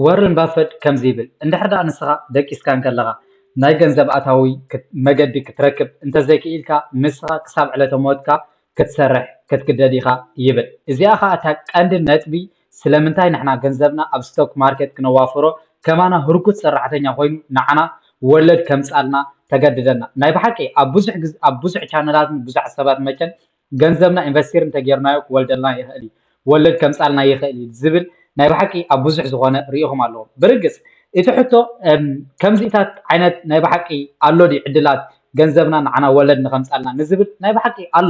ዎረን ባፈት ከምዚ ይብል፣ እንድሕር ደኣ ንስኻ ደቂስካ እንከለኻ ናይ ገንዘብ ኣታዊ መገዲ ክትረክብ እንተዘይክኢልካ፣ ንስኻ ክሳብ ዕለተ ሞትካ ክትሰርሕ ክትግደድ ኢኻ ይብል። እዚኣ ኸኣ እታ ቀንዲ ነጥቢ ስለምንታይ ንሕና ገንዘብና ኣብ ስቶክ ማርኬት ክነዋፍሮ፣ ከማና ህርኩት ሰራሕተኛ ኮይኑ ንዓና ወለድ ከምጽኣልና ተገድደና። ናይ ብሓቂ ኣብ ብዙሕ ኣብ ብዙሕ ቻነላትን ብዙሓት ሰባት መቸም ገንዘብና ኢንቨስቲር እንተጌርናዮ ክወልደልና ይኽእል እዩ፣ ወለድ ከምጽኣልና ይኽእል እዩ ዝብል ናይ ብሓቂ ኣብ ብዙሕ ዝኾነ ርእኹም ኣለዎም። ብርግጽ እቲ ሕቶ ከምዚታት ዓይነት ናይ ብሓቂ ኣሎ ድዩ ዕድላት ገንዘብና ንዓና ወለድ ንኸምጽኣልና ንዝብል ናይ ብሓቂ ኣሎ።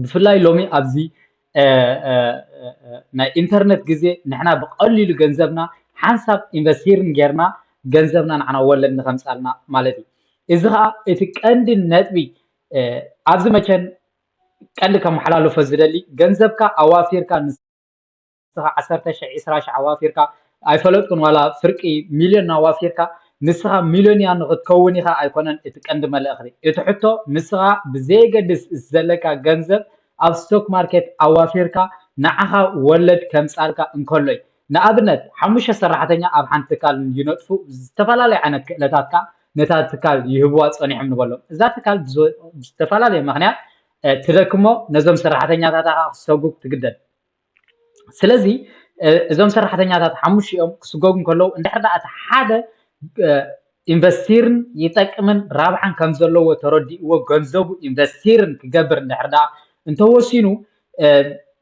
ብፍላይ ሎሚ ኣብዚ ናይ ኢንተርነት ግዜ ንሕና ብቐሊሉ ገንዘብና ሓንሳብ ኢንቨስቲርን ጌርና ገንዘብና ንዓና ወለድ ንኸምጽኣልና ማለት እዩ። እዚ ኸኣ እቲ ቀንዲ ነጥቢ ኣብዚ መቸን ቀንዲ ከመሓላልፎ ዝደሊ ገንዘብካ ኣዋፊርካ ንስኻ ዓሰርተ ሽሕ ዒስራ ሽሕ ኣዋፊርካ ኣይፈለጥኩን ዋላ ፍርቂ ሚልዮን ኣዋፊርካ ንስኻ ሚልዮንያ ንኽትከውን ኢኻ ኣይኮነን እቲ ቀንዲ መልእኽቲ እቲ ሕቶ ንስኻ ብዘየገድስ እቲ ዘለካ ገንዘብ ኣብ ስቶክ ማርኬት ኣዋፊርካ ንዓኻ ወለድ ከምጻልካ እንከሎይ ንኣብነት ሓሙሽተ ሰራሕተኛ ኣብ ሓንቲ ትካል ንይነጥፉ ዝተፈላለየ ዓይነት ክእለታት ከኣ ነታ ትካል ይህብዋ ጸኒሖም ንበሎም እዛ ትካል ብዝተፈላለየ ምክንያት ትደክሞ ነዞም ሰራሕተኛታታ ከኣ ክሰጉግ ትግደድ ስለዚ እዞም ሰራሕተኛታት ሓሙሽኦም ክስጎጉ እንከለዉ እንድሕር ደኣ እቲ ሓደ ኢንቨስቲርን ይጠቅምን ራብሓን ከም ዘለዎ ተረዲእዎ ገንዘቡ ኢንቨስቲርን ክገብር እንድሕር ደኣ እንተወሲኑ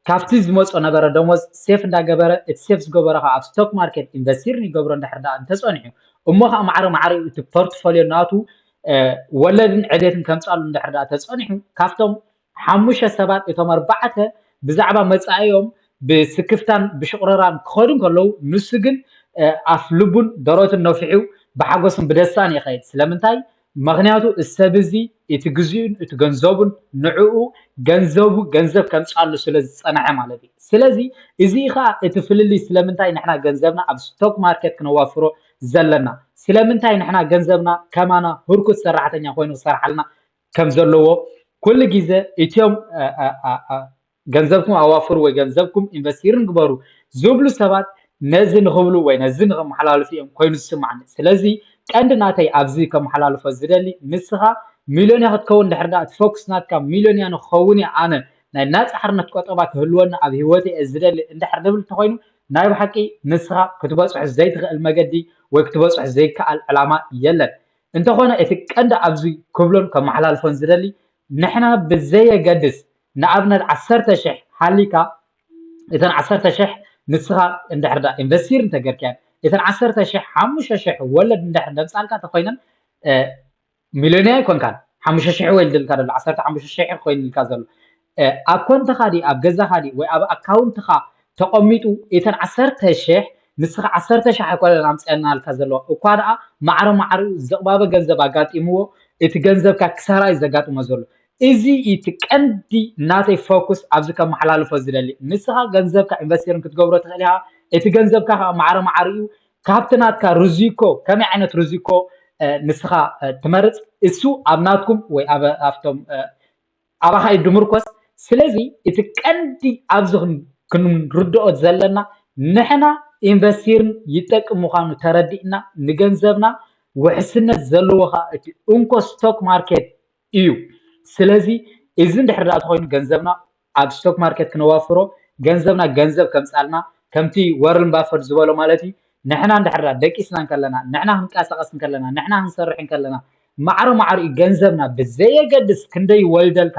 ካብቲ ዝመፆ ነበረ ደሞዝ ሴፍ እንዳገበረ እቲ ሴፍ ዝገበሮ ከዓ ኣብ ስቶክ ማርኬት ኢንቨስቲር ይገብሮ እንድሕር ደኣ እንተፀኒሑ እሞ ከዓ ማዕረ ማዕሪኡ እቲ ፖርትፎልዮ ናቱ ወለድን ዕቤትን ከምፃሉ እንድሕር ደኣ ተፀኒሑ ካብቶም ሓሙሽተ ሰባት እቶም ኣርባዕተ ብዛዕባ መፃኢኦም ብስክፍታን ብሽቑረራን ክኸዱ ከለዉ ንሱ ግን ኣፍ ልቡን ደረቱን ነፊሑ ብሓጎስን ብደስታን ይኸይድ ስለምንታይ ምኽንያቱ እሰብ እዚ እቲ ግዚኡን እቲ ገንዘቡን ንዕኡ ገንዘቡ ገንዘብ ከምፅኣሉ ስለዝፀነሐ ማለት እዩ ስለዚ እዙይ ኻዓ እቲ ፍልልይ ስለምንታይ ንሕና ገንዘብና ኣብ ስቶክ ማርኬት ክነዋፍሮ ዘለና ስለምንታይ ንሕና ገንዘብና ከማና ሁርኩት ሰራሕተኛ ኾይኑ ክሰርሓልና ከምዘለዎ ኩሉ ግዘ እትም ገንዘብኩም ኣዋፍሩ ወይ ገንዘብኩም ኢንቨስቲርን ግበሩ ዝብሉ ሰባት ነዚ ንኽብሉ ወይ ነዚ ንኸመሓላልፉ እዮም ኮይኑ ዝስማዕኒ ስለዚ ቀንዲ ናተይ ኣብዚ ከመሓላልፎ ዝደሊ ንስኻ ሚልዮንያ ክትከውን ድሕር ዳኣ እቲ ፎክስ ናትካ ሚልዮንያ ንኽኸውን እየ ኣነ ናይ ናጻ ሓርነት ቆጠባ ክህልወኒ ኣብ ሂወተይ እየ ዝደሊ እንድሕር ንብል እንተኾይኑ ናይ ብሓቂ ንስኻ ክትበጽሖ ዘይትኽእል መገዲ ወይ ክትበጽሖ ዘይከኣል ዕላማ የለን እንተኾነ እቲ ቀንዲ ኣብዚ ክብሎን ከመሓላልፎን ዝደሊ ንሕና ብዘየገድስ ንኣብነት ዓሰርተ ሽሕ ሃሊካ እተን ዓሰርተ ሽሕ ንስካ እንድሕር ድኣ ኢንቨስቲር እንተገርካየን እተን ዓሰርተ ሽሕ ሓሙሽተ ሽሕ ወለድ እንድሕር ደምጻልካ ተኮይነን ሚልዮንያ ኣይኮንካን ሓሙሽተ ሽሕ ወይ ድልካ ዘሎ ዓሰርተ ሓሙሽተ ሽሕ ኮይንልካ ዘሎ ኣብ ኮንትኻ ዲ ኣብ ገዛኻ ዲ ወይ ኣብ ኣካውንትኻ ተቀሚጡ ኢተን ዓሰርተ ሽሕ ንስካ ዓሰርተ ሽሕ ኣይኮነን ኣምጺኣልና ኢልካ ዘለዋ እኳ ደኣ ማዕረ ማዕሪኡ ዝቅባበ ገንዘብ ኣጋጢምዎ እቲ ገንዘብካ ክሳራ እዩ ዘጋጥሞ ዘሎ እዚ እዩ እቲ ቀንዲ ናተይ ፎኩስ ኣብዚ ከመሓላልፎ ዝደሊ ንስካ ገንዘብካ ኢንቨስቲርን ክትገብሮ ትክእል ኢካ እቲ ገንዘብካ ከኣ ማዕረ ማዕሪኡ ካብቲ ናትካ ርዚኮ ከመይ ዓይነት ርዚኮ ንስካ ትመርጽ እሱ ኣብ ናትኩም ወይ ኣብ ኣብቶም ኣባኻ እዩ ድምርኮስ ስለዚ እቲ ቀንዲ ኣብዚ ክንርድኦ ዘለና ንሕና ኢንቨስቲርን ይጠቅም ምዃኑ ተረዲእና ንገንዘብና ውሕስነት ዘለዎ ኸኣ እቲ እንኮ ስቶክ ማርኬት እዩ ስለዚ እዚ እንድሕር ደኣ ተኾይኑ ገንዘብና ኣብ ስቶክ ማርኬት ክነዋፍሮ ገንዘብና ገንዘብ ከምጻልና ከምቲ ወርን ባፈድ ዝበሎ ማለት እዩ ንሕና እንድሕር ደኣ ደቂስና እንከለና ንሕና ክንቀሳቐስ እንከለና ንሕና ክንሰርሕ እንከለና ማዕረ ማዕሪኡ ገንዘብና ብዘየገድስ ክንደይ ይወልደልካ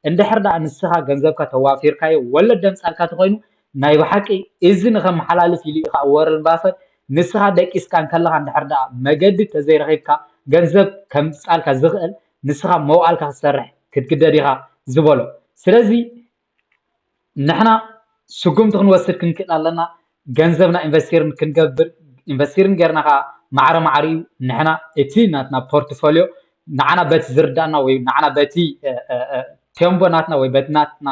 እንድሕር ድኣ ንስኻ ገንዘብካ ተዋፊርካዮ ወለድ ደምጻልካ ተኾይኑ ናይ ብሓቂ እዚ ንኸመሓላልፍ ኢሉ እዩ ኸኣ ዎረን ባፈት ንስኻ ደቂስካ እንከለኻ እንድሕር ድኣ መገዲ ተዘይረኺብካ ገንዘብ ከምጻልካ ዝኽእል ንስኻ መዋእልካ ክትሰርሕ ክትግደድ ኢኻ ዝበሎ ስለዚ ንሕና ስጉምቲ ክንወስድ ክንክእል ኣለና ገንዘብና ኢንቨስቲር ክንገብር ኢንቨስቲር ጌርና ከዓ ማዕረ ማዕረ እዩ ንሕና እቲ ናትና ፖርትፎልዮ ንዓና በቲ ዝርድኣና ወይ ንዓና በቲ ቴምቦ ናትና ወይ በቲ ናትና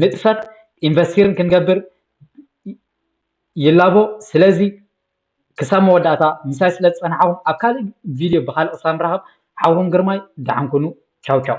ንጥፈት ኢንቨስቲር ክንገብር ይላቦ ስለዚ ክሳብ መወዳእታ ምሳይ ስለ ዝፀናሕኹም ኣብ ካልእ ቪድዮ ብካልእ ክሳብ ንራኸብ ሓውኹም ግርማይ ደሓን ኩኑ ቻው ቻው